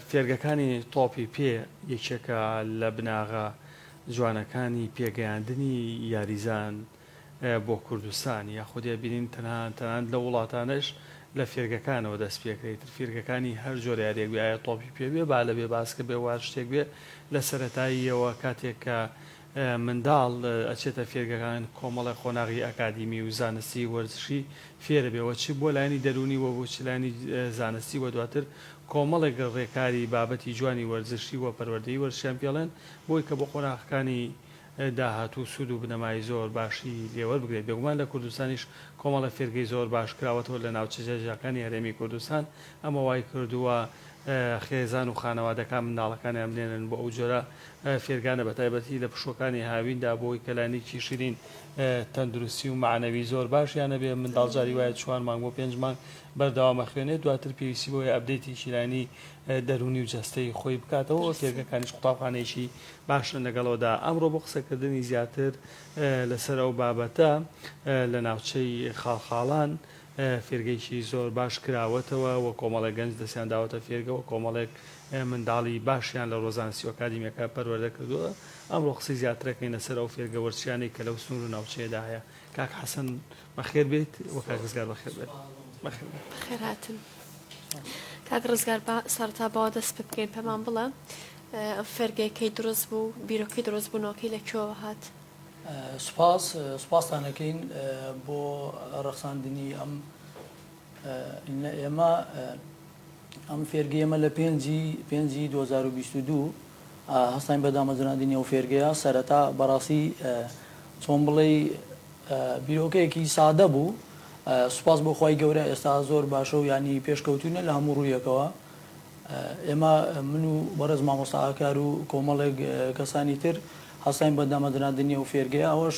فێرگەکانی تۆپی پێ یەکێکە لە بناغە جوانەکانی پێگەیاندنی یاریزان بۆ کوردستان، یاخود ئەبینین تەنها تەنانەت لەو وڵاتانەش لە فێرگەکانەوە دەست پێکرێ، ئیتر فیرگەکانی هەر جۆرە یاریەک بێ ئایە تۆپی پێ بێ، بالە بێ، باسکە بێ و هەر شتێک بێ لە سەرەتاییەوە کاتێک کە منداڵ ئەچێتە فێرگەکان کۆمەڵێ قۆناغی ئەکادیمی و زانستی و وەرزشی فێرەبێ و چ بۆ لایەنی دەروونی و بۆ چ لایەنی زانستی و دواتر کۆمەڵێک ڕێکاری بابەتی جوانی وەرزشی و پەروەردەی وەرزشیان پێڵێن بۆی کە بۆ قۆناغەکانی داهاتوو سوود و بنەمای زۆر باشی لێ وەربگرێت بێگومان لە کوردستانیش کۆمەڵێ فێرگەی زۆر باش کراوەتەوە لە ناوچە جیاجیاکانی هەرێمی کوردستان ئەمە وایکردووە خێزان و خانەوادەکان منداڵەکانیان بنێرن بۆ ئەو جۆرە فێرگانە بە تایبەتی لە پشووەکانی هاویندا بۆ ئەوەی کەلانیکی شیرین تەندروستی و مەعنەوی زۆر باشیان هەبێ منداڵ جاری وایە چوار مانگ بۆ پێنج مانگ بەردەوام ئەخوێنێ دواتر پێویستی بەوەیە ئەپدەیتێکی لایەنی دەروونی و جەستەیی خۆی بکاتەوە و فێرگەکانیش قوتابخانەیەکی باشن لەگەڵەوەدا ئەمڕۆ بۆ قسەکردنی زیاتر لەسەر ئەو بابەتە لە ناوچەی خاڵخاڵان فێرگەیەکی زۆر باش کراوەتەوە و کۆمەڵێک گەنج دەستیان داوەتە فێرگە و کۆمەڵێک منداڵی باشیان لە ڕۆزانسی و ئەکادیمیەکە پەروەردە کردووە، ئەمڕۆ قسەی زیاتر ئەکەین لەسەر ئەو فێرگە وەرچیانەی کە لەو سنور و ناوچەیەدا هەیە، کاک حەسەن بەخێر بێیت و کاک ڕزگار بەخێر بێن. بەخێر بێن. بەخێر هاتن. کاک ڕزگار با سەڕەتا بەوە دەست پێ بکەین پێمان بڵێ ئەم فێرگەیە کەی دروست بوو، بیرۆکەی دروست بوونەوەکەی لە کوێوە هات؟ سوپاس سوپاستان ئەکەین بۆ ڕەخساندنی ئەم ئێمە ئەم فێرگی ئێمە لە پێنجی پێنجی 2022 هەستین بە دامەزراندنی ئەو فێرگەیە سەرەتا بەڕاستی چۆن بڵێ بیرۆکەیەکی سادە بوو سوپاس بۆ خی گەورە ئێستا زۆر باشە و ینی پێشکەوتونە لە هەموو ڕوویەکەوە ئێمە من و بەڕێز مامۆستا ئاکار و کۆمەڵێک کەسانی تر هەستاین بە دامەزراندنی ئەو فێرگەیە، ئەوەش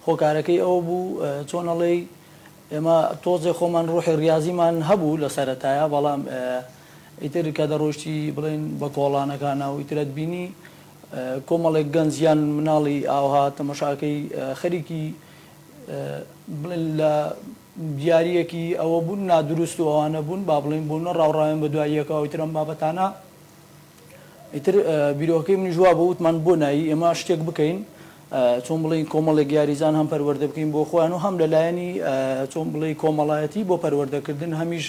هۆکارەکەی ئەوە بوو چۆن ئەڵێی ئێمە تۆزێ خۆمان ڕۆحی ڕیازیمان هەبوو لە سەرەتایە بەڵام ئیتر کە دەڕۆیشتی بڵێن بە کۆڵانەکانە و ئیتر ئەتبینی کۆمەڵێک گەنج یان مناڵی ئاوها تەمەشاکەی خەریکی بڵێن لە دیاریەکی ئەوە بوون نادروست و ئەوانە بوون با بڵێین بۆ نەڕا و ڕایان بە دوای یەکا و ئیتر ئەم بابەتانە ئیتر بیرۆکەکەی منیش وا بوو وتمان بۆ نایی ئێمە شتێک بکەین چۆن بڵێین کۆمەڵێک یاریزان هەم پەروەردە بکەین بۆ خۆیان و هەم لە لایەنی چۆن بڵێی کۆمەڵایەتی بۆ پەروەردەکردن هەمیش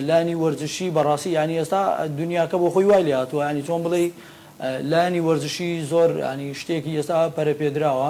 لانی وەرزشی بەڕاستی یعنی ئێستا دنیاکە بۆ خۆی وای لێ هاتووە ینی چۆن بڵێی لانی وەرزشی زۆر ینی شتێکی ئێستا پەرەپێدراوە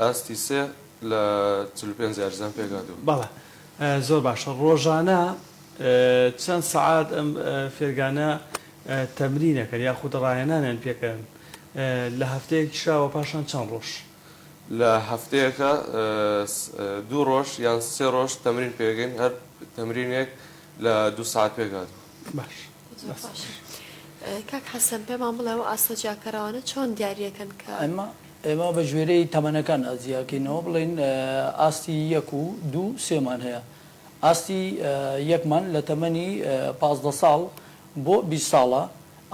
ئاستی سێ لە چل و پێنج یاریزان پێکهاتووە. بەڵێ زۆر باشە ڕۆژانە چەند سەعات ئەم فێرگانە تەمرین ئەکەن یاخود ڕاهێنانیان پێکەن لە هەفتەیەکیشا وە پاشان چەند ڕۆژ؟ لە هەفتەیەکا دوو ڕۆژ یان سێ ڕۆژ تەمرین پێکەین هەر تەمرینێک لە دوو سەعات پێکهاتووە. باش زۆر باشە. کاک حەسەن پێمان بڵێ ئەوە ئاسۆ جیاکەرەوانە چۆن دیاری ئەکەن کە. ئێمە بە گوێرەی تەمەنەکان جیاکەینەوە بڵێین ئاستی یەک و دوو سێمان هەیە ئاستی یەکمان لە تەمەنی پازدە ساڵ بۆ بیست ساڵە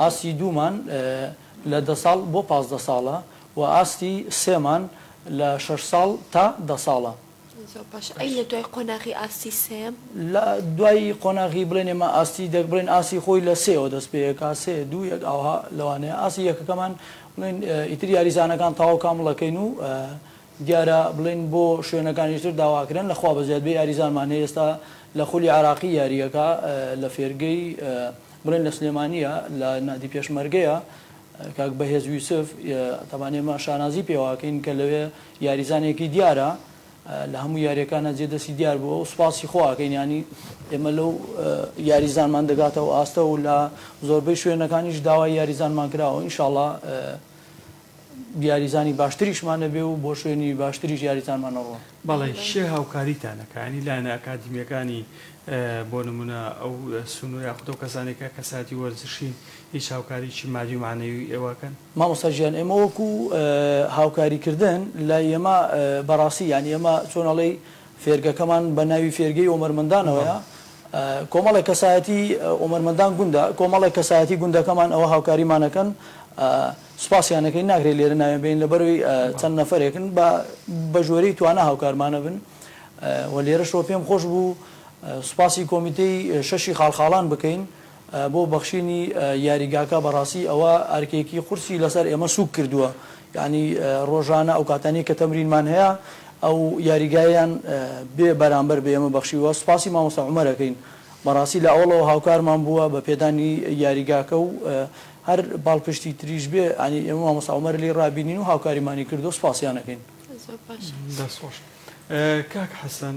ئاستی دوومان لە دە ساڵ بۆ پازدە ساڵە و ئاستی سێمان لە شەش ساڵ تا دە ساڵە. زۆر باشە ئەی لە دوای قۆناغی ئاستی سێیەم؟ لە دوای قۆناغی بڵێن ئێمە ئاستی دەک بڵێن ئاستی خۆی لە سێەوە دەست پێ ئەکا سێ دوو یەک ئاوها لەوانەیە ئاستی یەکەکەمان بڵێن ئیتر یاریزانەکان تەواو کامڵ ئەکەین و دیارە بڵێن بۆ شوێنەکانیش تر داوا ئەکرێن لە خوا بەزیاد بێ یاریزانمان هەیە ئێستا لە خولی عێراقی یاری ئەکا لە فێرگەی بڵێن لە سلێمانییە لە نادی پێشمەرگەیە کاک بەهێز یوسف، تەبان ئێمە شانازی پێواکەین کە لەوێ یاریزانێکی دیارە، لە هەموو یاریەکانا جێ دەستی دیار بووە و سوپاسی خۆ ئاکەین، یانی ئێمە لەو یاریزانمان دەگاتە ئەو ئاستە و لە زۆربەی شوێنەکانیش داوای یاریزانمان کراوە، ان شاءاللە یاریزانی باشتریشمان ئەبێ و بۆ شوێنی باشتریش یاریزانمان ئەڕوات. بەڵێ کێ هاوکاریتان ئەکا یانی لایەنە ئەکادیمیەکانی بۆ نمونە ئەو سونۆ یاخود ئەو کەسانەی کە کەسایەتی وەرزشین هیچ هاوکاریی مادی و مەعنەوی ئێوە کەن. مامۆستا گیان ئێمە وەکو هاوکاری کردن لای ئێمە بەڕاستی یانی ئێمە چۆن ئەڵێی فێرگەکەمان بە ناوی فێرگەی ئۆمەرمەندانەوەیە کۆمەڵێک کەسایەتی ئۆمەرمەندان گوندە کۆمەڵێک کەسایەتی گوندەکەمان ئەوە هاوکاریمان ئەکەن سوپاسیان ئەکەین ناکرێت لێرە ناوێن بێنین لەبەروی چەند نەفەرێکن بە بە ژۆرەی توانا هاوکارمان ئەبن و لێرەشەوە پێم خۆش بوو سوپاسی کۆمیتەی شەشی خاڵخاڵان بکەین بۆ بەخشینی یاریگاکە بەڕاستی ئەوە ئەرکێکی قورسی لەسەر ئێمە سووک کردووە یانی ڕۆژانە ئەو کاتانەی کە تەمرینمان هەیە ئەو یاریگایەیان بێ بەرامبەر بە ئێمە بەخشیووە سوپاسی مامۆستا عومەر ئەکەین بەڕاستی لە ئەوڵەوە هاوکارمان بووە بە پێدانی یاریگاکە و هەر پاڵپشتی تریش بێ یانی ئێمە مامۆستا عومەر لێی ڕابینین و هاوکاریمانی کردووە سوپاسیان ئەکەین. زۆر باشە. دەست خۆش کاک حەسەن.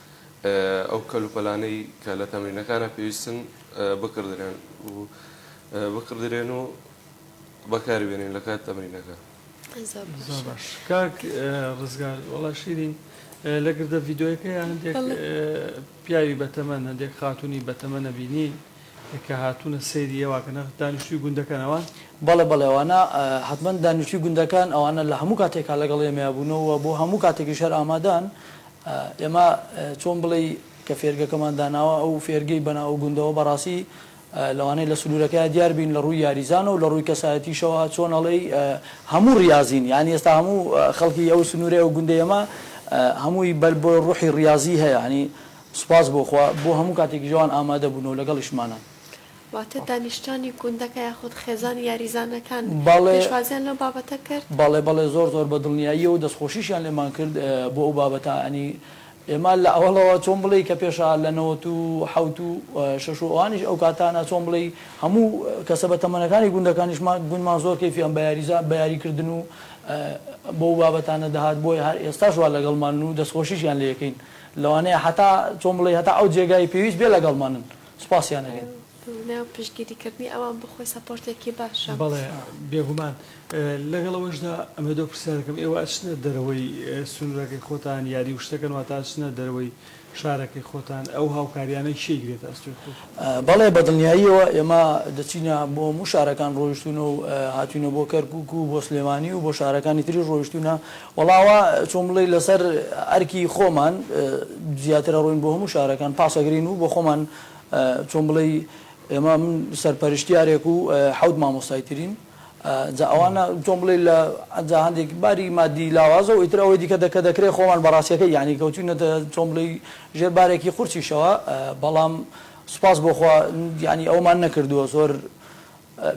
ئەو کەلوپەلانەی کە لە تەمرینەکانا پێویستن بکڕدرێن و بکڕدرێن و بەکاری بێنین لە کات تەمرینەکە. زۆر باش. زۆر باش کاک ڕزگار وەڵا شیرین لە گردە ڤیدۆیەکەیا هەندێک پیاوی بەتەمەن هەندێک خاتونی بەتەمەن ئەبینی کە هاتوونە سەیری ئێوە کە نە دانیشتووی گوندەکەن ئەوان؟ بەڵێ بەڵێ ئەوانە حەتمەن دانیشتووی گوندەکەن ئەوانە لە هەموو کاتێکا لەگەڵ ئێمەیا بوونەوە و بۆ هەموو کاتێکیش هەر ئامادەن ئێمە چۆن بڵێی کە فێرگەکەمان داناوە ئەو فێرگەی بەناو ئەو گوندەوە بەڕاستی لەوانەیە لە سنورەکەیا دیار بین لە ڕووی یاریزانە و لە ڕووی کەسایەتیشەوە چۆن ئەڵێی هەموو ڕیازین یانی ئێستا هەموو خەڵکی ئەو سنورەی ئەو گوندەی ئێمە هەمووی بەر بۆ ڕوحی ڕیازی هەیە یانی سوپاس بۆ خوا بۆ هەموو کاتێکیش ئەوان ئامادە بوون و لەگەڵیشمانن. واتە دانیشتوانی گوندەکە یاخود خێزانی یاریزانەکان پێشوازیان لەو بابەتە کرد؟ بەڵێ بەڵێ زۆر زۆر بە دڵنیاییەوە دەستخۆشیشیان لێمان کرد بۆ ئەو بابەتە یانی ئێمە لە ئەوەڵەوە چۆن بڵێی کە پێشا لە نەوەت و حەوت و شەش و ئەوانیش ئەو کاتانە چۆن بڵێی هەموو کەسە بە تەمەنەکانی گوندەکانیشمان گوندمان زۆر کەیفیان بە یاریزان بە یاری کردن و بەو بابەتانە دەهات بۆیە هەر ئێستاش وا لەگەڵمانن و دەستخۆشیشیان لێ ئەکەین لەوانەیە هەتا چۆن بڵێی هەتا ئەو جێگای پێویست بێ لەگەڵمانن. سوپاسیان ئەکەین. بۆ پشتگیری کردنی ئەوان بۆ خۆی سەپۆرتێکی باشە. بەڵێ بێگومان، لەگەڵ ئەوەشدا ئەمە دەو پرسیارەکەم، ئێوە ئەچنە دەرەوەی سنوورەکەی خۆتان یاری وشتەکەن واتە ئەچنە دەرەوەی شارەکەی خۆتان ئەو هاوکاریانە کێ ئیگرێتە ئەستۆی خۆی؟ بەڵێ بەدڵنیاییەوە ئێمە دەچینە بۆ هەموو شارەکان ڕۆیشتوونە و هاتووینە بۆ کەرکوک و بۆ سلێمانی و بۆ شارەکانی تریش ڕۆیشتوونە وەڵا وا چۆن بڵێی لەسەر ئەرکی خۆمان زیاترە ڕووین بۆ هەموو شارەکان پاس ئەگرین و بۆ خۆمان چۆن بڵێی ئێمە من سەرپەرشتیارێک و حەوت مامۆستای ترین جا ئەوانە چۆن بڵێی لە جا هەندێک باری مادی لاوازە و ئیتر ئەوەی دیکە کە دەکرێ خۆمان بە ڕاستیەکەی یانی کەوتوینەتە چۆن بڵێی ژێر بارێکی قورسیشەوە بەڵام سوپاس بۆ خوا یانی ئەوەمان نەکردووە زۆر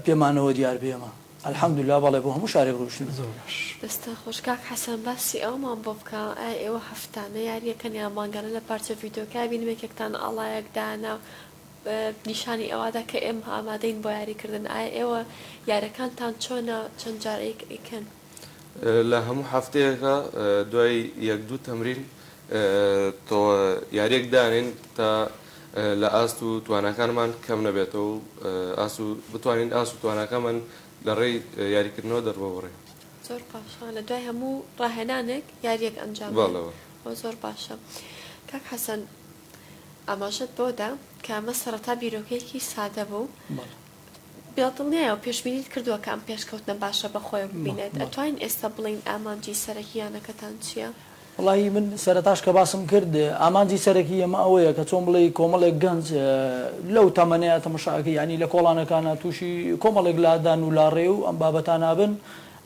پێمانەوە دیار بێ ئێمە الحمدللە بەڵێ بۆ هەموو شارێک ڕۆیشتوین. زۆر باش. دەستان خۆش کاک حەسەن باسی ئەوەمان بۆ بکە ئایا ئێوە هەفتانە یاریەکەن یان مانگانە لە پارچە ڤیدیۆکە بینم یەکێکتان ئاڵایەک دانا نیشانی ئەوەدا کە ئێمە ئامادەین بۆ یاری کردن ئایا ئێوە یارەکانتان چۆنە چەند جار ئەیکەن. لە هەموو هەفتەیەکا دوای یەک دوو تەمرین تۆ یاریەک دانێن تا لە ئاست و تواناکانمان کەم نەبێتەوە و ئاست و بتوانین ئاست و تواناکانمان لە ڕێی یاریکردنەوە دەرببڕین. زۆر باشە لە دوای هەموو ڕاهێنانێک یاریەک ئەنجام بدەن بەڵێ بەڵێ. ئەوە زۆر باشە. کاک حەسەن ئاماژەت بەوە دا کە ئەمە سەڕەتا بیرۆکەیەکی سادە بوو بەڵێ. بێدڵنیایە و پێشبینیت کردووە کە ئەم پێشکەوتنە باشە بە خۆیەوە ببینێت؟ ئەتوانین ئێستا بڵێین ئامانجی سەرەکی یانەکەتان چییە؟ وەڵاهی من سەرەتاش کە باسم کرد ئامانجی سەرەکی ئێمە ئەوەیە کە چۆن بڵێی کۆمەڵێک گەنج لەو تەمەنەیە تەمەشاکە یانی لە کۆڵانەکانە تووشی کۆمەڵێک لادان و لاڕێ و ئەم بابەتانە بن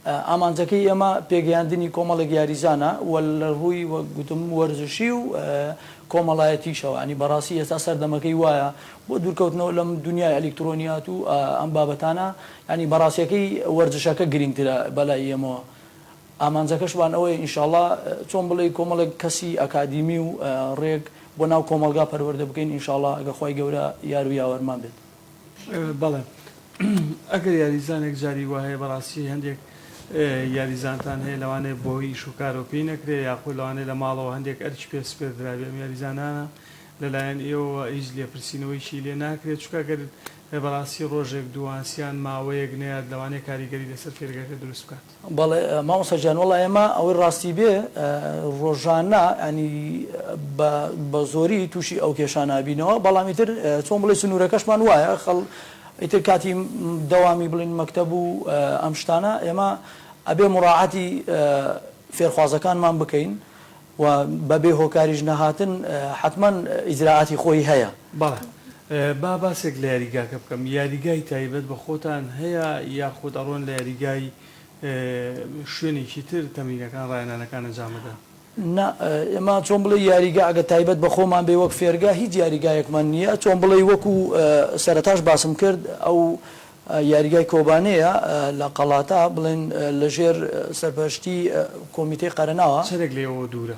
ئامانجەکەی ئێمە پێگەیاندنی کۆمەڵێک یاریزانە و لە ڕووی وەک گوتم وەرزشی و کۆمەڵایەتیشەوە یانی بەڕاستی ئێستا سەردەمەکەی وایە بۆ دوورکەوتنەوە لەم دونیای ئەلیکترۆنیات و ئەم بابەتانە یانی بەڕاستیەکەی وەرزشەکە گرینگترە بەلای ئێمەوە ئامانجەکەشمان ئەوەیە ئینشاڵا چۆن بڵێی کۆمەڵێک کەسی ئەکادیمی و ڕێک بۆ ناو کۆمەڵگا پەروەردە بکەین ئینشاڵا ئەگەر خوای گەورە یار و یاوەرمان بێت. بەڵێ ئەگەر یاریزانێک جاری وا هەیە بەڕاستی هەندێک یاریزانتان هەیە لەوانەیە بۆ ئیش و کارەوە پێی نەکرێ یاخود لەوانەیە لە ماڵەوە هەندێک ئەرکی پێ سپێردرابێ ئەم یاریزانانە لەلایەن ئێوەوە هیچ لێپرسینەوەیەکی لێ ناکرێ چونکە گەر بەڕاستی ڕۆژێک دووانس یان ماوەیەک نەیات لەوانەیە کاریگەری لەسەر فێرگەکە دروست بکات. بەڵێ مامۆستا گیان وەڵا ئێمە ئەوەی ڕاستی بێ ڕۆژانە ینی بە زۆری تووشی ئەو کێشانابینەوە بەڵام ئیتر چۆن بڵێ سنوورەکەشمان وایە خەڵ ئیتر کاتی دەوامی بڵین مەکتەب و ئەم شتانە ئێمە ئەبێ مڕاعاتی فێرخوازەکانمان بکەین و بە بێ هۆکاریش نەهاتن حەتمەن ئیجرائاتی خۆی هەیە. بەڵێ با باسێک لە یاریگاکە بکەم یاریگای تایبەت بە خۆتان هەیە یاخود ئەڕۆن لە یاریگای شوێنێکی تر تەمرینەکان ڕاهێنانەکان ئەنجام بدەن؟ نا ئێمە چۆن بڵێی یاریگا ئەگەر تایبەت بە خۆمان بێ وەک فێرگا هیچ یاریگایەکمان نییە چۆن بڵێی وەکو سەرەتاش باسم کرد ئەو یاریگای کۆبانێیە لە قەڵاتا بڵێن لە ژێر سەرپەرشتی کۆمیتەی قەرەناوە. چەنێک لە ئێوە دوورە؟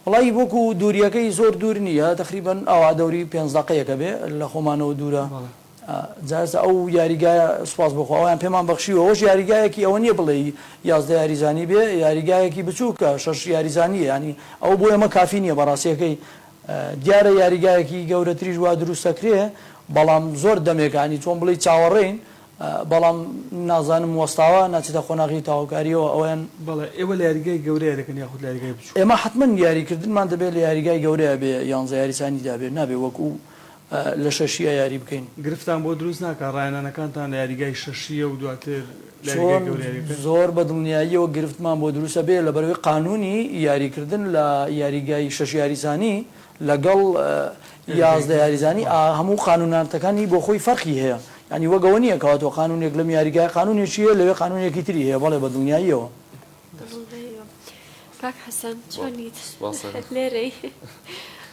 وەڵایی وەکو دووریەکەی زۆر دوور نییە تەقریبەن ئەوا دەوری پێنج دەقەیەکە بێ لە خۆمانەوە دوورە بەڵێ. جا ئێستا ئەو یاریگایە سوپاس بۆ خوا ئەویان پێمان بەخشیوە ئەوەش یاریگایەکی ئەوە نییە بڵێی یازدە یاریزانی بێ یاریگایەکی بچووکە شەش یاریزانییە یانی ئەوە بۆ ئێمە کافی نییە بەڕاستیەکەی دیارە یاریگایەکی گەورەتریش وا دروست ئەکرێ بەڵام زۆر دەمێکە هەنی چۆن بڵێی چاوەڕێین بەڵام نازانم وەستاوە ناچێتە قۆناغی تەواوکاریەوە ئەویان. بەڵێ ئێوە لە یاریگای گەورە یاری دەکەن یاخود لە یاریگای بچوک؟ ئێمە حەتمەن یاریکردنمان دەبێ لە یاریگای گەورە بێ یانزە یاریزانی دابێ نابێ وەکو لە شەشیە یاری بکەین. گرفتان بۆ دروست ناکات ڕاهێنانەکانتان لە یاریگای شەشیە و دواتر لە یاریگای گەورە یاری بکەن؟ زۆر بە دڵنیاییەوە گرفتمان بۆ دروست ئەبێ لەبەرئەوەی قانوونی یاری کردن لە یاریگای شەش یاریزانی لەگەڵ یازدە یاریزانی هەموو قانوونناردەکانی بۆ خۆی فەرقی هەیە یانی وەک ئەوە نییە کەواتە قانوونێک لەم یاریگایە قانوونێکی هەیە لەوێ قانوونێکی تری هەیە بەڵێ بە دڵنیاییەوە. کاک حەسەن چۆنیت لێرەی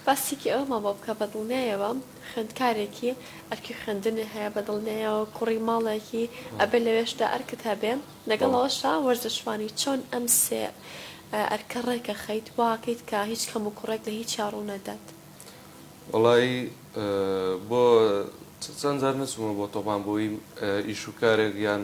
باسێکی ئەوەمان بۆ بکە بەدڵنیایەوە خوێندکارێکی ئەرکی خوێندنی هەیە بەدڵنیایەوە کوڕی ماڵێکی ئەبێ لەوێشدا ئەرکت هەبێ لەگەڵەوەشا وەرزشوانی چۆن ئەم سێ ئەرکە ڕێکە خەیت واکەیت کە هیچ کەم و کوڕێک لە هیچ چاڕوو نەدات وەڵایی بۆ چەند جار نەچوومە بۆ تۆپان بۆی ئیشوکارێک یان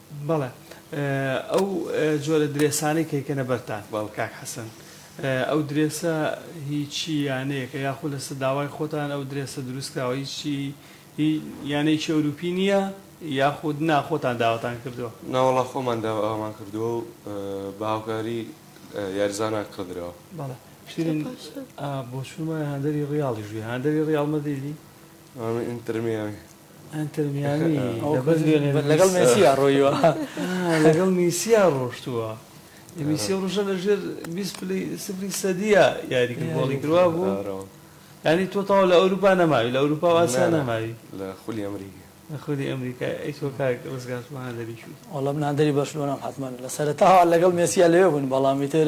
بەڵێ ئەو جۆرە درێسانەی کە یکەنە بەر تاک. بەڵ کاک حەسەن ئەو درێسە هی چی یانەیەکە یاخو لەسە داوای خۆتان ئەو درێسە دروست کراوە هی چی هی یانەیەکی ئەوروپی نیە یاخود نا خۆتان داواتان کردوە؟ ناوەڵا خۆمان داوامان کردوە و بە هاوکاری یاریزانان کڕدراوە. بەڵێ پشتین ئا بۆچوومە هاندەری ڕیاڵیش بی هاندەری ڕیاڵ مەدریدی. ئەمە ئینتەر میامی. ئەنتەر میامی لەبەر لیۆنێل میسی. لەگەڵ مێسیا ڕۆیوە. لەگەڵ میسیا ڕۆشتووە. میسی ئەو ڕۆژە لەژێر بیست پلەی سفری سەدیە یاری کرد گۆڵی کرد وابوو؟ یانی تۆ تەواو لە ئەوروپا نەماوی لە ئەوروپا و ئاسیا نەماوی. لە خولی ئەمریکا. لە خولی ئەمریکا ئەی تۆ کاک ڕزگار تۆ هاندەری کوێی؟ وەڵا من هاندەری بەرشلۆنەم حەتمەن. لە سەرەتاوە لەگەڵ مێسیا لەوێ بووین بەڵام ئیتر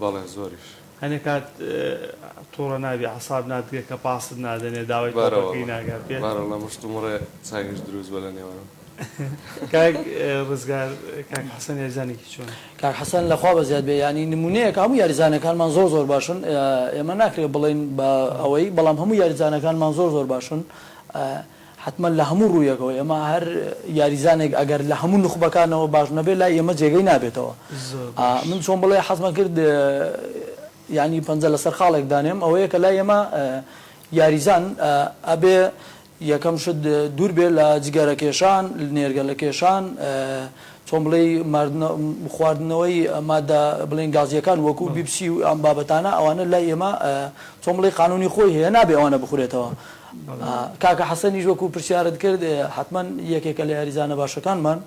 بەڵێ زۆریش. هەنێ کات توڕە نابی عەساب ناتگرێ کە پاست نادەنێ داوای تۆپەکەی ناکات پێت. بارە واللە مشت و مڕێ چاکیش دروست بە لە نێوانم. کاک ڕزگار کاک حەسەن یاریزانێکی چۆنە؟ کاک حەسەن لە خوا بەزیاد بێ یانی نمونەیەکە هەموو یاریزانەکانمان زۆر زۆر باشن ئێمە ناکرێ بڵێین بە ئەوەی بەڵام هەموو یاریزانەکانمان زۆر زۆر باشن حەتمەن لە هەموو ڕوویەکەوە ئێمە هەر یاریزانێک ئەگەر لە هەموو نوخبەکانەوە باش نەبێت لای ئێمە جێگەی نابێتەوە من چۆن بڵێ حەزمە کرد یانی پەنجە لەسەر خاڵێک دانێم ئەوەیە کە لای ئێمە یاریزان ئەبێ یەکەم شت دوور بێ لە جگەرە کێشان نێرگە لە کێشان چۆن بڵێ خواردنەوەی مادە بڵێن گازیەکان وەکو بیپسی و ئەم بابەتانە ئەوانە لای ئێمە چۆن بڵێ قانونی خۆی هەیە نابێ ئەوانە بخورێتەوە کاکە حەسەنیش وەکو پرسیارت کرد حەتمەن یەکێکە لە یاریزانە باشەکانمان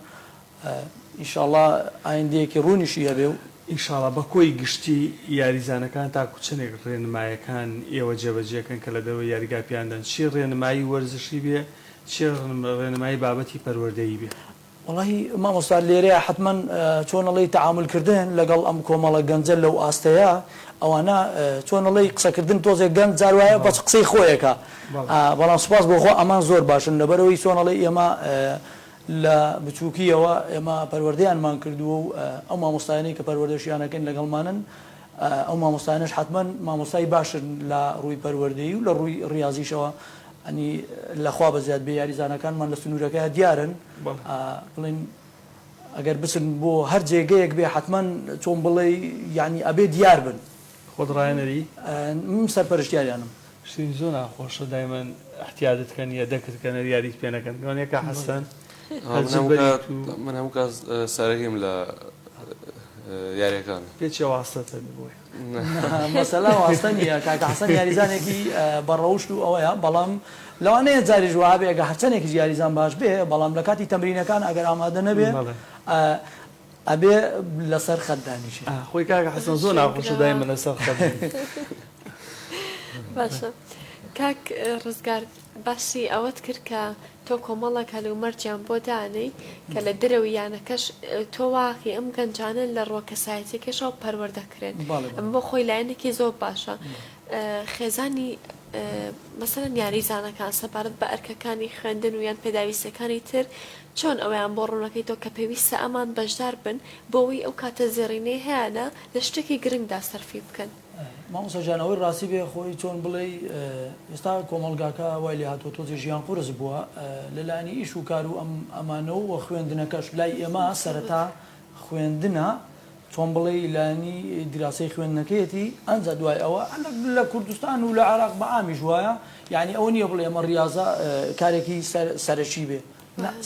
ان شاء اللە ئایندەیەکی ڕوونیشی هەبێ و. ان شاء اللە بە کۆی گشتی یاریزانەکان تاکو چەنێک ڕێنمایەکان ئێوە جێبەجێ کەن کە لە دەرەوەی یاریگا پێیان دەن چی ڕێنمایی وەرزشی بێ چی ڕێنمایی بابەتی پەروەردەیی بێ. وەڵاهی مامۆستا لێرەیا حەتمەن چۆن ئەڵێی تەعامول کردن لەگەڵ ئەم کۆمەڵە گەنجە لەو ئاستەیا ئەوانە چۆن ئەڵێی قسە کردن تۆزێ گەنج جار وایە بەس قسەی خۆیەکا بەڵام سوپاس بۆ خوا ئەمان زۆر باشن لەبەرئەوەی چۆن ئەڵێی ئێمە لە بچوکیەوە ئێمە پەروەردەیانمان کردووە و ئەو مامۆستایانەی کە پەروەردەشیان ئەکەین لەگەڵمانن ئەو مامۆستایانەش حەتمەن مامۆستای باشن لە ڕووی پەروەردەیی و لە ڕووی ڕیازیشەوە ینی لە خوا بەزیاد بێ یاریزانەکانمان لە سنوورەکە دیارن بڵێن ئەگەر بچن بۆ هەر جێگەیەک بێ حتمما چۆن بڵێ یعنی ئەبێ دیار بن خۆت ڕایەنەری من سەرپەرشتیاریانم شتین زۆر ناخۆشە دایمەن احتیادت کەن یە دەکرد کەنە یاریت پێ نەکەن گەۆنەکە حەسەن من هەموو کاس سەرەکیم لە یاریەکان پێچێ واستەتە بۆی مەسەلە واستە نییە کاکە حەسەن یاریزانێکی بە ڕەوشت و ئەوەیە بەڵام لەوانەیە جاریش وابێ ئەگە هەرچەنێکیش یاریزان باش بێ بەڵام لە کاتی تەمرینەکان ئەگەر ئامادە نەبێ ئەبێ لەسەر خەت دانیشێ خۆی کاکە حەسەن زۆر ناخۆشە دایمە لەسەر خەت باشە کاک ڕزگار باسی ئەوەت کرد کە تۆ کۆمەڵێک هەلومەرجیان بۆ دانێی کە لە درەو یانەکەش تۆ واقی ئەم گەنجانە لە ڕوە کەسایەتیەکەشەوە پەروەردەکرێن ئەم بۆ خۆی لایەنێکی زۆر باشە خێزانی مەسەرەن یاریزانەکان سەبارەت بە ئەرکەکانی خوێندن و یان پێداویستەکانی تر چۆن ئەویان بۆ ڕوونەکەی تۆ کە پێویستە ئەمان بەشدار بن بۆەوەی ئەو کاتە زێڕینەی هەیەە لە شتێکی گرنگدا سەرفی بکەن مامۆستا گیان ئەوەی ڕاستی بێ خۆی چۆن بڵێی ئێستا کۆمەڵگاکە وای لێ هاتووە تۆزێ ژیان قورس بووە لە لایەنی ئیش و کار و ئەم ئەمانە و خوێندنەکەش لای ئێمە سەرەتا خوێندنە چۆن بڵێی لایەنی دیراسەی خوێندنەکەیەتی ئەنجا دوای ئەوە لە کوردستان و لە عێراق بە عامیش وایە یعنی ئەوە نییە بڵێ ئەمە ڕاضە کارێکی سەرەکی بێ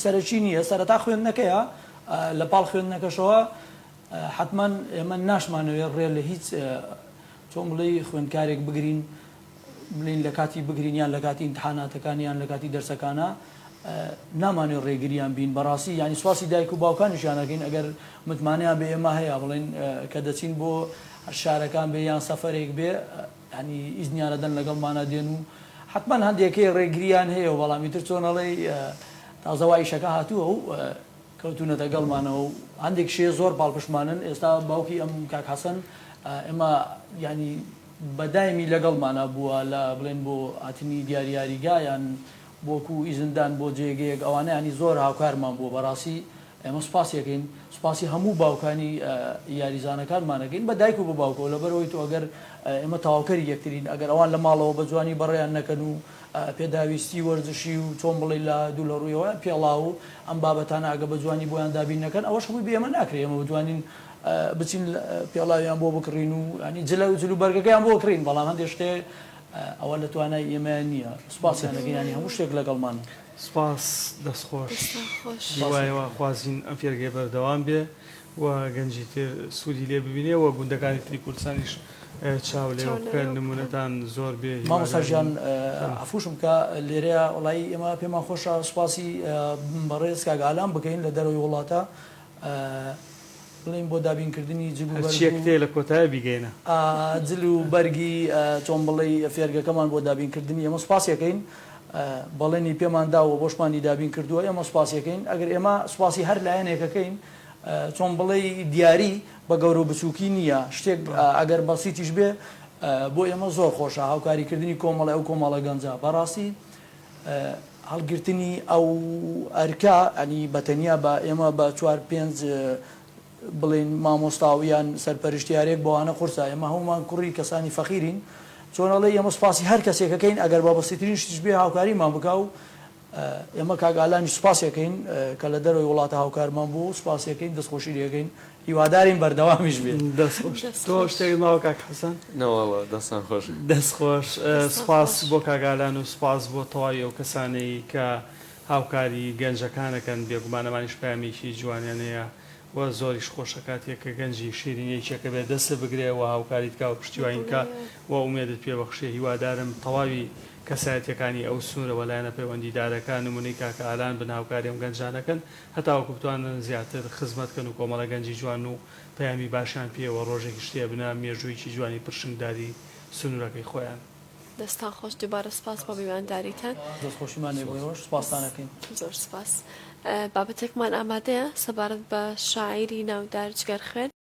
سەرەکی نییە سەرەتا خوێندنەکەیە لە پاڵ خوێندنەکەشەوە حەتمەن ئێمە ناشمانەوێت ڕێ لە هیچ چۆن بڵێی خوێندکارێک بگرین بڵێین لە کاتی بگرین یان لە کاتی ئیمتحاناتەکان یان لە کاتی دەرسەکانە نامانوێت ڕێگریان بین بەڕاستی یانی سواسی دایک و باوکانیشیان نەکەین ئەگەر متمانەیان بە ئێمە هەیە بڵێن کە دەچین بۆ شارەکان بێ یان سەفەرێک بێ ینی ئیزنیانە دەن لەگەڵمانە دێن و حتمما هەندێکەی ڕێگریان هەیە و بەڵامی تر چۆنەڵی تازەوایشەکە هاتووە و کەوتونەتە گەڵمانەوە و هەندێک شێ زۆر پاڵپشتمانن ئێستا باوکی ئەم کاک حەسەن ئێمە یانی بە دایمی لەگەڵمانا بووە لە بڵێن بۆ هاتنی دیاری یاریگا یان بۆکو ئیزن دان بۆ جێگەیەک ئەوانە یانی زۆر هاوکارمان بووە بەڕاستی ئێمە سوپاسی ئەکەین سوپاسی هەموو باوکانی یاریزانەکانمان ئەکەین بە دایک و بە باوکەوە لەبەرئەوەی تۆ ئەگەر ئێمە تەواوکەری یەکترین ئەگەر ئەوان لە ماڵەوە بە جوانی بەڕێیان نەکەن و پێداویستی وەرزشی و چۆن بڵێی لە دوو لە ڕوویەوە پێڵاو و ئەم بابەتانە ئەگە بە جوانی بۆیان دابین نەکەن ئەوەش ڕووی بە ئێمە ناکرێ ئێمە بتوانین بچین پێڵاویان بۆ بکڕین و ینی جلە و جلو بەرگەکەیان بۆ کڕین بەڵام هەندێک شتێ ئەوە لە توانای ئێمە نییە سوپاسیان لەگە ینی هەموو شتێک لەگەڵمان سپاس دەستخۆش خوازین ئەم فێرگەی بەردەوام بێ و گەنجی تر سودی لێ ببینێ و گوندەکانی تری کوردستانیش چاو لێوە بکەن نمونەتان زۆر بێ مامۆستا گیان عەفوشم بکە لێرەیا وەڵایی ئێمە پێمان خۆشە سوپاسی بەڕێز کاک ئالان بکەین لە دەرەوەی وڵاتە بڵێین بۆ دابین کردنی جل و بەرگی هەرچیەک تێ لە کۆتایە بیگەینە جل و بەرگی چۆن بڵێی فێرگەکەمان بۆ دابین کردنی ئێمە سوپاسی ئەکەین بەڵێنی پێمان داوە بۆشمانی دابین کردووە ئێمە سوپاسی ئەکەین ئەگەر ئێمە سوپاسی هەر لایەنێک ئەکەین چۆن بڵێی دیاری بە گەورە و بچووکی نییە، شتێک ئەگەر بەسیتیش بێ بۆ ئێمە زۆر خۆشە، هاوکاری کردنی کۆمەڵی ئەو کۆمەڵە گەنجە، بەڕاستی هەڵگرتنی ئەو ئەرکە یانی بە تەنیا بە ئێمە بە چوار پێنج بڵێین مامۆستا و یان سەرپەرشتیارێک بۆوانە قورسە، ئێمە هەموومان کوڕی کەسانی فەقیرین، چۆن ئەڵێی ئێمە سوپاسی هەر کەسێک ئەکەین ئەگەر بە بەسیترین شتیش بێ هاوکاریمان بکا و ئێمە کاک ئالانیش سوپاسی ئەکەین کە لە دەرەوەی وڵاتە هاوکارمان بووە و سوپاسی ئەکەین دەستخۆشی لێ ئەکەین هیوادارین بەردەوامیش بێت. دەست خۆش. تۆ شتێکت ماوە کاک حەسەن؟ نەواڵە دەستان خۆش. دەست خۆش. سوپاس بۆ کاک ئالان و سوپاس بۆ تەواوی ئەو کەسانەی کە هاوکاری گەنجەکان ئەکەن بێگومان ئەمانیش پەیامێکی جوانیان هەیە و زۆریش خۆشە کاتێک کە گەنجی شیرینی یەکێکە بێت دەستت بگرێ و هاوکاریت بکا و پشتیوانیت بکا و ئومێدت پێ بەخشێ هیوادارم تەواوی کەسایەتیەکانی ئەو سنورە و لایەنە پەیوەندیدارەکە نمونەی کاکە ئالان بن هاوکاری ئەم گەنجانە کەن هەتاوەکو بتوانن زیاتر خزمەت کەن و کۆمەڵە گەنجی جوان و پەیامی باشیان پێ و ڕۆژێکیش تێ بنە مێژویەکی جوانی پرشنگداری سنورەکەی خۆیان دەستان خۆش دووبارە سپاس بۆ میوانداریتان. دەستخۆشیمان لێ بووین ئێوەش سپاستان ئەکەین. زۆر سپاس. بابەتێکمان ئامادەیە سەبارەت بە شاعیری ناودار جگەرخوێن.